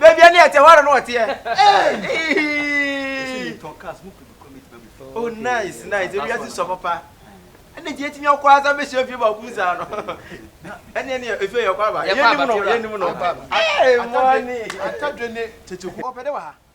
baabi a ne ɛte hɔ ara na ɔteɛ oh nice nice ebi ase sɔ papa ɛna gye etimi ɔkɔ asa bɛ hyɛ fie baako mu saa no ɛna ɛna efie yɛ ɔkɔ aba yɛ nim no yɛ nim no ɛɛ mɔni atadwe ne tete ku ɔpɛ de wɔ ha.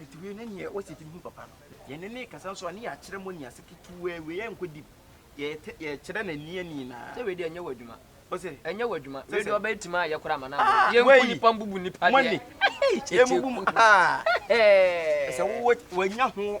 Etumi ne nea wɔsi tumi hu papa no. Yɛne no rekasa nso a, na yɛakyerɛ mu nea ɛsɛ ketewaa wie. Yɛnkɔ deep. Yɛte, yɛkyerɛ no ani ani nyinaa. Sɛ wei deɛ ɛnyɛ w'adwuma. Ose. Ɛnyɛ w'adwuma. Wei deɛ ɔbɛyɛ tim ayɛ koraa ma no abɔ no. Yɛnku nnipa mbubu nnipa deɛ. Money. Yɛmmubu mu. Ɛsɛ wowɔ, wanya ho.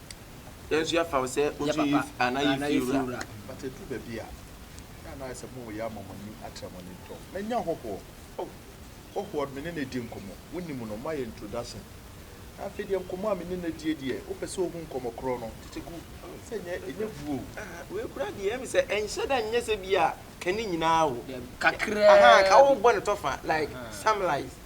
Yɛn nso yɛafa wo sɛ ɔntu yi anaa yɛ fie wura. But ɛduru baabi a, na na ayɛ sɛ mo yɛ ama mo ani atra mo ani tɔ. Manya hɔhoɔ. Oh, hɔhoɔ me ne no adi nkɔmmɔ. Wonim no, mayɛ introduction. Na afei deɛ nkɔmmɔ a me ne no adie deɛ, wopɛ sɛ wohu nkɔmmɔ korɔ no, tete gu sɛ ɛnyɛ, ɛnyɛ gu o. Ah, wei koraa deɛ, ɛyɛ me sɛ ɛnhyɛ da nyɛ sɛ bi a ka ne nyinaa o. Dabi, kakraa bi. Ahaa, ka wobɔ no tɔfa, like, some lies.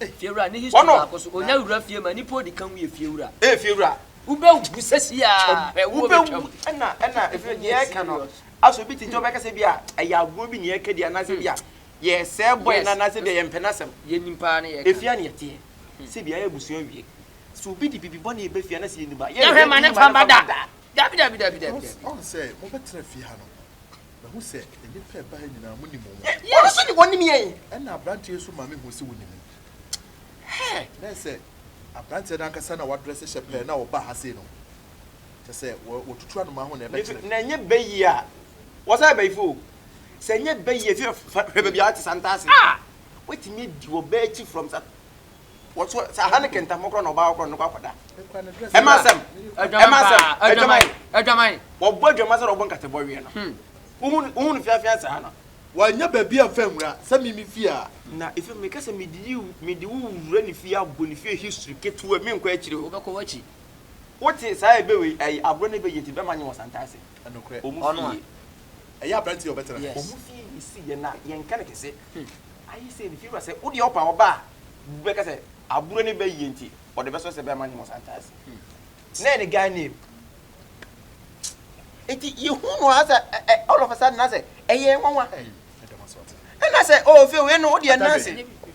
Fiewura ne history baako so. Onya wura fie ma nipa odi kan yɛ fiewura. Ɛyɛ fiewura. Wobɛ wu sɛsi a hwɛ wo bɛ twam. Ɛna ɛna ɛfiri deɛ ɛka no aso bi titi ɔbɛka sɛ bi a ɛyɛ agorɔ bi ne ɛka di anaasɛ bi a yɛ sɛ bɔyɛ no anaasɛ bi a yɛ mpɛ n'asɛm. Yɛ nim paa ne yɛ ka. Efia ne yɛ teɛ. Sɛ bi a yɛ busua wie. Sɛ obi de bibi bɔne ɛbɛ fie anaasɛ yɛ nim a yɛ hwɛ ma ne fa ba da. Dabi dabi dabi dabi dabi. Ɔn sɛ mo bɛ tena fie ha no. Mahu sɛ nnipa a ɛba ha nyinaa monim wɔn. Ɛ, wɔn nso de wɔnim yɛn. Ɛnna aberanteɛ yi nso ma mehuu sɛ wɔnim me. Hɛɛ! Na ayɛ sɛ aberanteɛ no ankasa na wadrɛse hyɛ pɛɛ na ɔbaa ha sei no. Kyerɛ sɛ, wɔ, wɔtutu anomaa ho na ɛbɛkyerɛ. Nanso, na ɛnyɛ bɛ yie a wɔsɛ abayifoɔ o. Sɛ ɛnyɛ bɛ yie a, hwɛ, hwɛ baabi a wɔte, Santa Ase. Ah! Wɔatumi adi wɔ bɛ akyi from Santa. wɔto saa ha ne kɛntɛn ho kora na ɔbaa kora ne kɔ akɔda ɛma asɛm ɛma asɛm adwaman adwaman wɔbɔ adwaman sɛ na ɔbɔ nkate bɔ wiɛ no hmm. wohu wohu no fiafia saa no wanya baabi a nfa nwura sɛ mi mi fie a na efi mi kasa mi di yi mi di wo wura ne fie abɔ ne fie history ketewa mi nkɔ akyire o wobɛkɔ w'akyi wote saa ebe wei ɛyi aburo ne bɛ yɛ ti bɛma nye wɔ santa ase Nokorɛ, Ɔno a. Ɛyɛ aberanteɛ a ɔbɛtena ha yi. Wɔn fie yi si yɛn a, yɛnka no kɛse. Ayɛ sɛ Fiewura sɛ wodeɛ ɔpa ɔba a, bɛka sɛ aburo no bɛyie nti ɔde bɛsɔ sɛ bɛma no wɔ Santaase. Na ɛyɛ ne guy name. Nti yɛhuu no aa sɛ all of a sudden na sɛ ɛyɛ nwanwa. Ɛna sɛ oh Fiew wei no wodeɛ nna ase.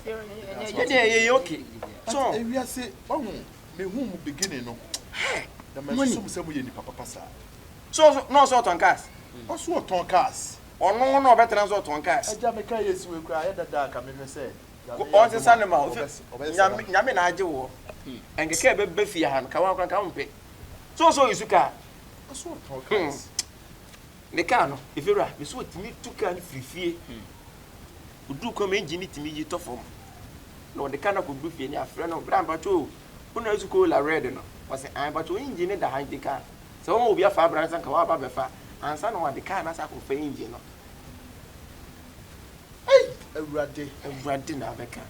Yɛdeɛ yɛyɛ okay. But ewiase, wahu. Mehuu mo beginning no, na mansusu mo sɛ moyɛ nnipa papa saa. So ɔso na ɔso ɔtɔn cars? Ɔso ɔtɔn cars. Ɔno na ɔbɛtena so ɔtɔn cars. Agya me car yɛsi wei koraa ayɛ dada a nka mehwɛ sɛ Nyame yɛ adom a ɔbɛsesa no. Nyame na agye woɔ. Anka car bɛba fie ha no nka woa koraa nka wompɛ. So ɔso ɔyɛ su car? Ɔso ɔtɔn cars. Ne kaa no, efi wura no so otumi tu kaa no firi fie. Oduu kwan mu a engine no tumi yi tɔ fam, na ɔde kaa no akɔduru fie, na afrɛ no, Bra mpakyɛ o, wonnya nso kola red no? Ɔse, Ae mpakyɛ o, engine no da ha nti ka sɛ woma obi afa abra no sɛ anka woaba abɛfa ansa na wɔde kaa no asan akɔfa engine no. Ei! Awurade! Awurade na abɛka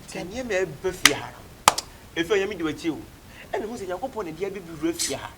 sɛ nneɛma a ɛreba fie ha no, efi Onyame di w'akyi o. Ɛna hu sɛ Nyankopɔn na ɛde abɛbi wura fie ha.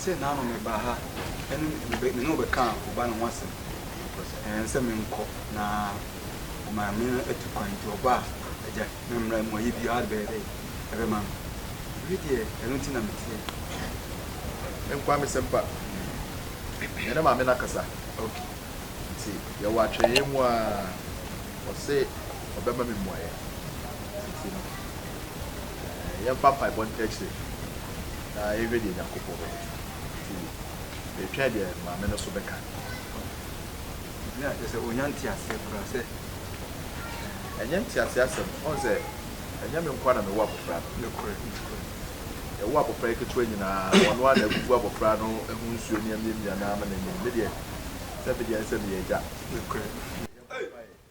Seesei na ano mebaa ha ne wo bɛkaa wo ba no ho asɛm because ɛɛ sɛ menkɔ na maame no atu kwan nti ɔba a agya memmra mu ayɛ biara bɛyɛ dɛ ɛbɛma me ɛno deɛ ɛno nti na meteɛ menkɔ amesɛmpa yɛ ne maame no akasa ok nti yɛwɔ atwɛnee mu a ɔse ɔbɛma me mmuaeɛ nti no yɛmfa mpaebɔ ntakyire. na yɛhwɛ deɛ Nyankopɔn bɛyɛ. Nti yɛtwɛn deɛ Maame no so bɛka. Obi a kyerɛ sɛ ɔnya nteaseɛ koraa sɛ. Ɛnyɛ nteaseɛ asɛm, ɔhu sɛ ɛnyɛ me nkoa na mewɔ abɔfra no. Nokorɛ, nokorɛ. Yɛwo abɔfra yi ketewa nyinaa, ɔno ara na agugu abɔfra no ho nsuo ne amiamia no ara ma no anim. Me deɛ, sɛ me deɛ ɛne sɛ meyɛ agya. Nokorɛ.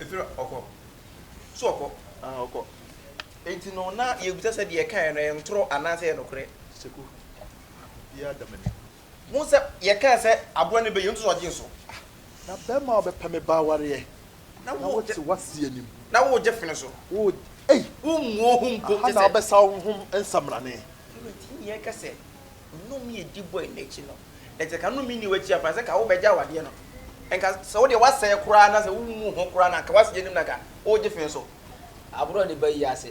Efira ɔkɔ. So ɔkɔ? Ah, ɔkɔ. Enti no na yɛbisa sɛ deɛ ɛkaeɛ no ɛyɛ ntorɔ anaasɛ ɛyɛ nokorɛ? Seku, obiara da m'anim. Wohu sɛ yɛkaa sɛ aboa no bɛyɛ, nso ɔgye so. Na bɛrima a ɔbɛpɛ me ba awareɛ, na wote w'ase anim. Na woregye fene so. Ei! Wommu wo ho mpo te sɛ. Aha na wobɛsa wo ho nsamanane. Awurati nni ɛka sɛ nnome a ɛdi bɔe no akyi no, na sɛ ka nnome nni w'akyi a, fa no sɛ ka wobɛgye awadeɛ no. Nka sɛ wo deɛ woasɛe koraa na sɛ wommu wo ho koraa na anka w'ase anim na anka woregye fene so. Aboa no bɛyi ase.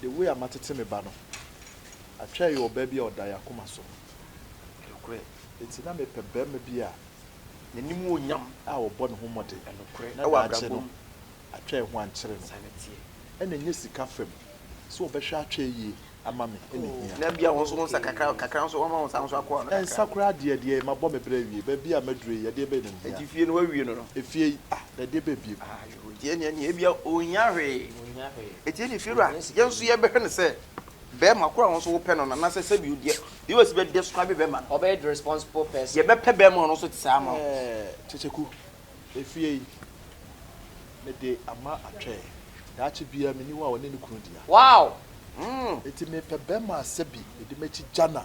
The way a matete me ba no atwa ɛyɛ ɔbaa bi a ɔda yɛ akoma so nokorɛ enti na me pɛ barima bi a nanim wɔ nyam a ɔbɔ ne ho mmɔden nokorɛ na daakye no atwa ɛho ankyere no ɛna ɛnyɛ sika fam sɛ ɔbɛhwɛ atwa ɛyie ama me ɛna ɛhia ɛnsa koraa deɛ deɛ mabɔ me berɛ awie baabi a maduru yi ɛdeɛ bɛn na ɛhia efie yi ah na ɛdeɛ bɛn bio Ogyee nea nea ebia onnya hwee. Enti ɛne firi a, yɛn nso yɛbɛhwɛ no sɛ barima koro a wɔn nso wopɛ no no, anaasɛ sɛbi wo deɛ, yɛ wɔ si bɛ describe barima no. Ɔbɛyɛ the responsible person. Yɛbɛpɛ barima a ɔno nso te saa ama wo. Kyekyeku, efie yi, mede ama atwɛ. Daakye biara, menni hɔ a ɔne ne kunu dea. Wow! Enti mepɛ barima a sɛbi mede m'akyi gya no a.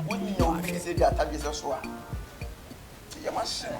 Wonnya obi te sɛ gyata dwesɛ so a, te yam ahye no.